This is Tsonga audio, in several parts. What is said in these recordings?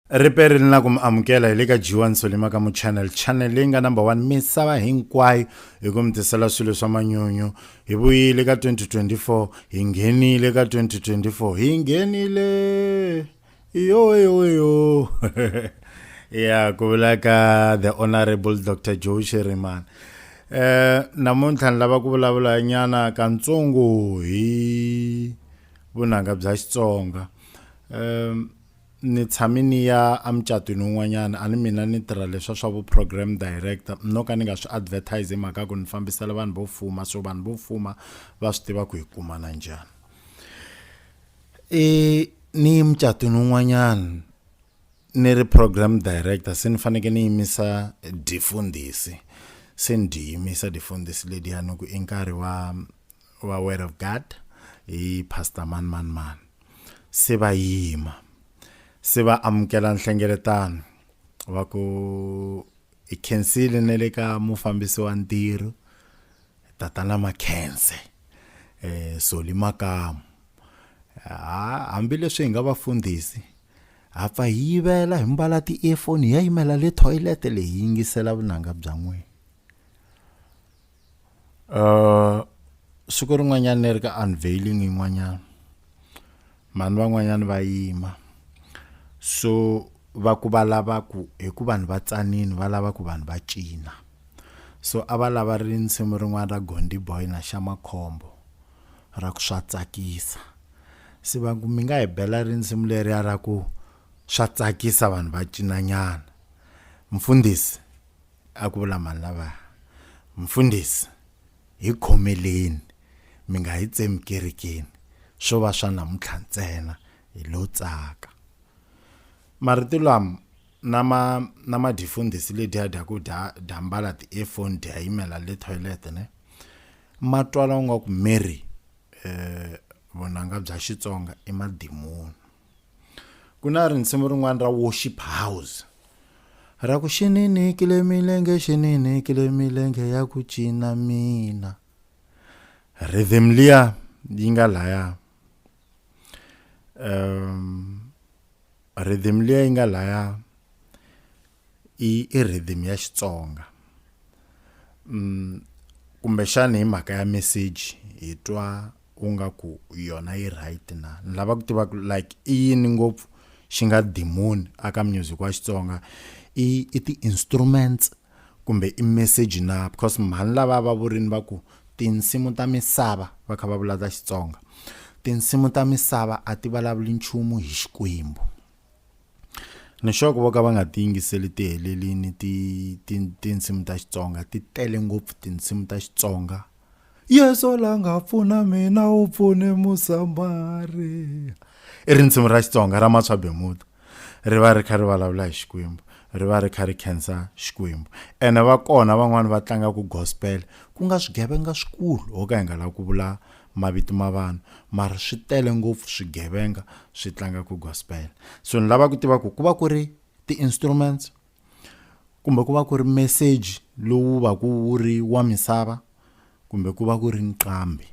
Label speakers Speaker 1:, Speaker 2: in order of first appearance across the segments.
Speaker 1: riperi ni la ku mi amukela hi le ka jiwa nsolima ka muchannel channel leyi nga number one misava hinkwayo hi ku mi tisela swilo swa manyunyu hi vuyile ka 2024 hi nghenile ka 2024 hi nghenile yoyoyo ya ku vula ka the honorable dr joe sheriman um eh, namuntlha ni lava ku vulavula nyana kantsongo hi vunanga bya xitsonga um ni tshame ni ya emucatwini wun'wanyana a ni mina ni tirha leswa swa vu-program director no ka ni nga swi advertise hi mhaka ku ni fambisela vanhu vo fuma so vanhu vo fuma va swi tiva ku hi kumana njhani i ni yi mucatwini wun'wanyana ni ri program director se ni faneke ni yimisa difundhisi se ni dyi yimisa difundhisi lediyani ku i nkarhi wa wa word of god hi pastor mani mani mani se va yima se va amukela nhlengeletano va ku hi khensile ne le ka mufambisi wa ntirho tatana makhense eh soli makamu hambileswi hi nga vafundhisi ha pfa hi yivela hi mbala ti-earphone hi ya yimela le toilet leyi yingisela vunanga bya n'wina uh siku rin'wanyana ni ri ka unveiling yin'wanyana mhani van'wanyana va yima so va ku va lava ku hi ku vanhu va tsanini va lava ku vanhu va cina so a va lava ri nsimu rin'wana ra gondi boy na xa makhombo ra ku swa tsakisa se va ku mi nga hi bela ri nsimu leriya ra ku swa tsakisa vanhu va cinanyana mfundhisi A ku vula mani lavaya? Mfundhisi, hi khomeleni, mi nga hi tsemi kerekeni, swo va swa namuntlha ntsena, hi lo tsaka. Marito lam na ma na ma dyi fundhisi ledyiya dya ku dya dya mbala ti earphone dya yimela le toilet ne. Ma twala u nga ku Mary eh vunanga bya Xitsonga i madimoni. ku na rinsimu rin'wana ra worship house ra ku xinini kile milenge xinini kile milenge ya ku cina mina rhythm liya yi nga laya um rhythm liya yi nga laya i i rhythm ya Xitsonga kumbexana hi mhaka ya message hi twa u nga ku yona yi right na ni lava ku tiva ku like i yini ngopfu xi nga dimoni aka music wa Xitsonga i i ti-instruments kumbe i message na because mhani lava va vurini va ku tinsimu ta misava va kha va vula ta Xitsonga tinsimu ta misava a ti vulavuli nchumu hi Xikwembu. Nixoko vo ka va nga tiyingiseli tihelelini ti ti tinsimu ta Xitsonga ti tele ngopfu tinsimu ta Xitsonga Yesu la nga pfuna mina u pfune Musamariya i rinsimu ra Xitsonga ra Matswa Bemuda ri va ri kha ri vulavula hi Xikwembu ri va ri kha ri khensa Xikwembu ene va kona van'wani va tlangaka gospel ku nga swigevenga swikulu ho ka hi nga lavi ku vula mavito ma vanhu mara swi tele ngopfu swigevenga swi tlanga ku gospel so ni lava ku tiva ku ku va ku ri ti-instruments kumbe ku va ku ri message lowu va ku wu ri wa misava kumbe ku va ku ri nqambi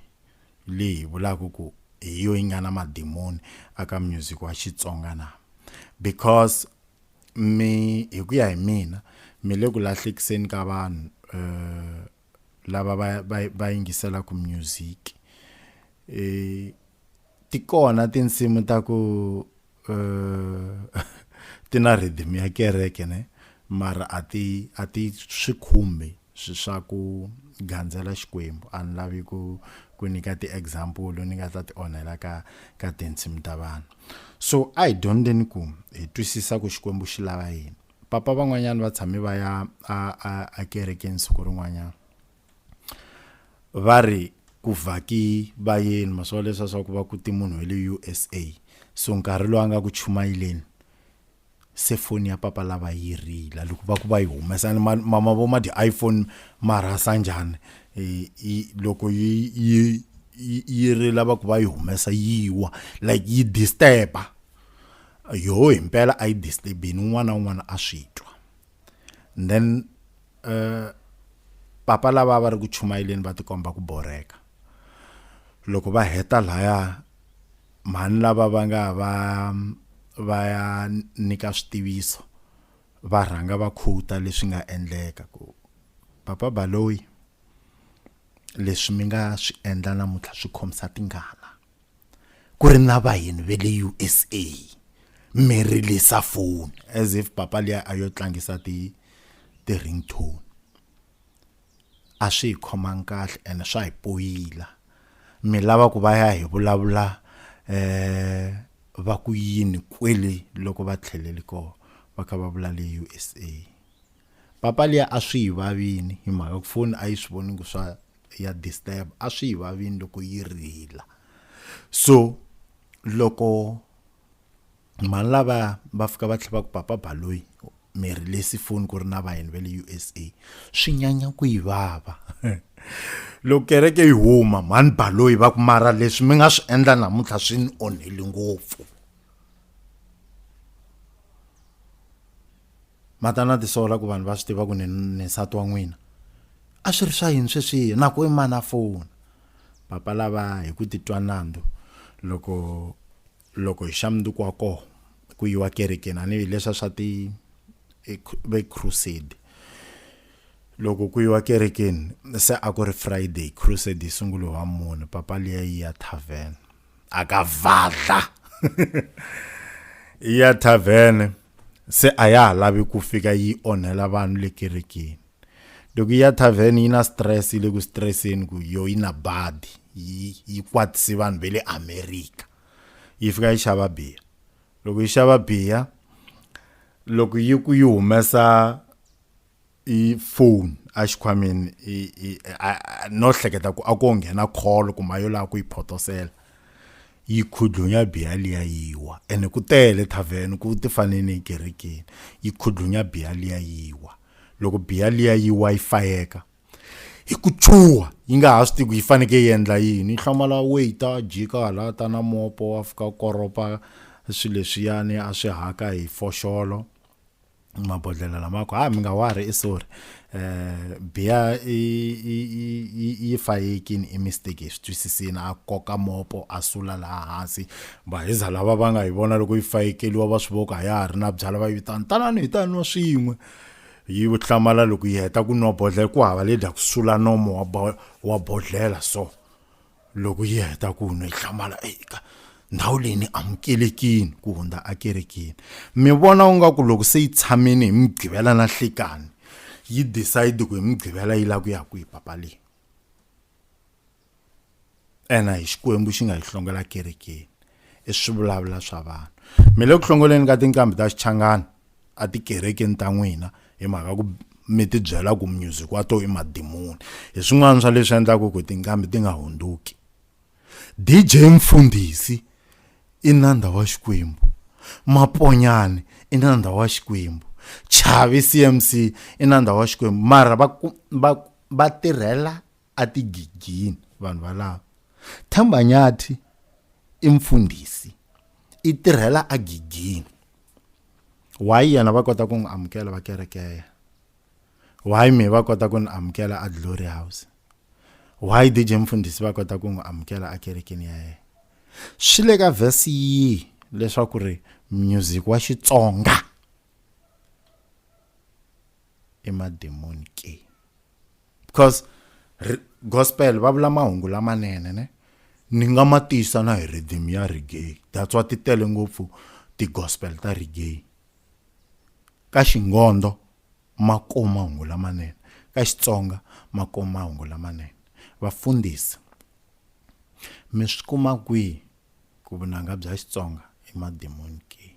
Speaker 1: leyi vulaka ku hi yo yi nga na madimoni aka music wa xitsonga na because mi hi ku ya hi mina mi le ku lahlekiseni ka vanhu um lava va va va yingiselaka music e ti kona tinsimu ta ku ti na rhythm ya kereke ne mara a ti a ti swi khumbi swi swa ku gandzela Xikwembu a ni lavi ku ku nyika ti-example ni nga ta ti onhela ka ka tinsimu ta vanhu so a hi dyondzeni ku hi twisisa ku Xikwembu xi lava yini. papa van'wanyana va tshame va ya ekerekeni siku rin'wanyana va ri ku vhaki vayeni maswala leswiya swa ku va ku ti munhu wa le u s a so nkarhi lowu a nga ku chumayeleni se foni ya papa lava yi rila loko va ku va yi humesa ni mama vo ma dyi iphone ma rhasa njhani um loko yi yi yi rila va ku va yi humesa yi wa like yi disturb-a yoho hi mpela a yi disturbini un'wana na un'wana a swi twa and then uh, papa lava va ri ku chumayeleni va tikomba ku boreka loko va heta laya mhani lava va nga va va ya nyika switiviso va rhanga va khuta leswi nga endleka ku papa baloyi leswi mi nga swi endla namuntlha swi khomisa tingana ku ri na vahini ve le usa mi rilisa foni as if papa liya a yo tlangisa ti ti-ring tone a swi hi khomangi kahle ene swa hi poyila mi lava ku va ya hi vulavula um va ku yini kwele loko va tlheleli kona va kha va vula le usa papa liya a swi yi vavini hi mhaka ku foni a yi swi voni ku swa ya disturb a swi hi vavini loko yi rila so loko mhani lava va fika va tlhela va ku papa baloyi mi rilesi foni ku ri na vayeni va le usa swi nyanya ku yi vava loko kereke yi huma mhani baloyi va ku mara leswi mi nga swi endla namuntlha swi ni onheli ngopfu ma ta na tisola ku vanhu va swi tiva ku ni ni nsati wa n'wina a swi ri swa yini sweswihi na ku i mani a fona papa lava hi ku titwa nandzu loko loko hi xa mundzuku wa koho ku yiwa kerekeni a ni hi leswa swa ti ve crusade loko ku yiwa kerekeni se a ku ri friday crusade yi sungulo wa mune papa liya yi ya tavern akavadla ya tavern se a ya ha lavi ku fika yi onhela vanhu le kerekeni loko ya tavern yi na stress yi le ku stresseni ku yo yi na badi yi yi kwatisi vanhu ve le america yi fika yi xava biya loko yi xava biya loko yi ku yi humesa i phone a xikhwameni no hleketa ku a ko nghena call kumbe a yo lava ku yi photosela yi khudlunya biya liya yiwa ene ku tele thavheni ku ti fane ni ekerekeni yi khudlunya biya liya yiwa loko biya liya yiwa yi fayeka hi ku chuha yi nga ha swi tivi ku yi fanekele yi endla yini yi hlamala weyita jika hala ta na mopo wa fika koropa swilo leswiyani a swi haka hi foxolo mabodhlelo lamako ha ah, mi nga wari i sorry eh biya yi fayekini i mistake hi swi twisisini a koka mopo a sula laha hansi vahiza lava va nga yi vona loko yi fayekeliwa va swi voka a ya ha ri na byala va yi vitana tanani hi ta nwa swin'we yi hlamala loko yi heta ku nwa bodlhela ku hava le dya ku sula nomo wa bodlhela so loko yi heta ku nwa yi hlamala eka ndhawu leyi ni amukelekini ku hundza akerekini mi vona u nga ku loko se yi tshamini hi mugqivela na hlikani yi decide ku hi mugqivela yi lava ku ya kwihi papa leyi ena hi xikwembu xi nga yi hlongela kerekeni i swivulavula swa vanhu mi le ku hlongoleni ka tinqambi ta xichangani a tikerekeni ta n'wina hi mhaka ku mi tibyela ku music wa to i madimoni hi swin'wana swa leswi endlaka ku tinqambi ti nga hundzuki dj mfundhisi i nandha wa xikwembu maponyane i nandha wa xikwembu chavi cmc i nandha wa xikwembu mara va va va tirhela a tigigini vanhu valava thambanyathi i mfundhisi i tirhela a gigini why yena va kota ku n'wi amukela va kerekeya why me va kota ku ni amukela a glory house why dj mfundhisi va kota ku n'wi amukela a kerekeni ya yena swi le ka vhesi yihi leswaku ri music wa xitsonga i mademoni ke because gospel va vula mahungu lamanene ne ni nga ma tiyisa na hi rhythm ya reggae that's why ti tele ngopfu ti-gospel ta reggae ka xingondo ma kuma mahungu lamanene ka xitsonga ma kuma mahungu lamanene vafundhisi mi swi kuma kwihi ku vunanga bya xitsonga i mademoni ke